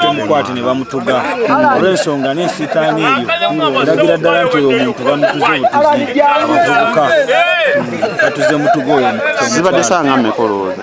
bamukwate ne bamutuga olw'ensonga n'ensitaani eyo eragira ddala nti oyo omuntu bamutuze obutuzi abavubuka batuze mutuga oyo zibadde sanga mekolowoza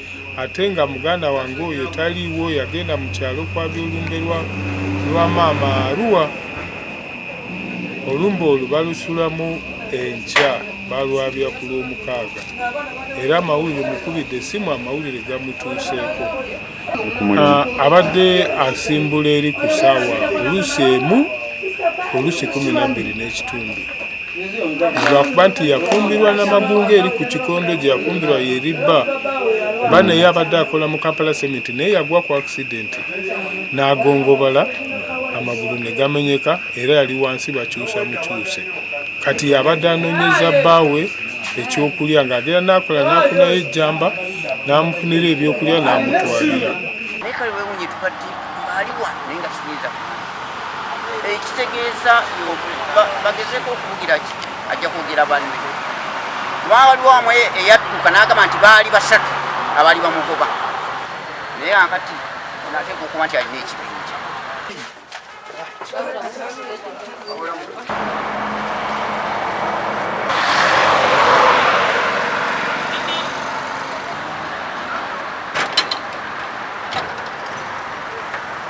ate nga muganda wange oyo taliiwo yagenda mu kyalo kwabya olumbe lwa maama aruwa olumbe olwo balusulamu enkya balwabya ku lwomukaaga era amawulire mukubidde esimu amawulire gamutuuseeko ah, abadde asimbula eri ku saawa oluusi emu oluusi kumi nabiri n'ekitundu lwakuba nti yafumbirwa namagunga eri ku kikondo gye yafumbirwa yeri bba ba naye abadde akola mu kampala sementi naye yagwa ku akisidenti n'agongobala amagulu ne gamenyeka era yali wansi bakyusa mukyuse kati yabadde anoonyeza bbaawe ekyokulya ng'agera n'akola n'afunayo ejjamba n'amufunira ebyokulya n'amutwalira ekitegeeza bagezeko okubugira ki ajja kwogera banne waliwo amu eyadduka n'agamba nti baali basatu abaali bamugoba naye akati nateeka okuba nti alina ekibinja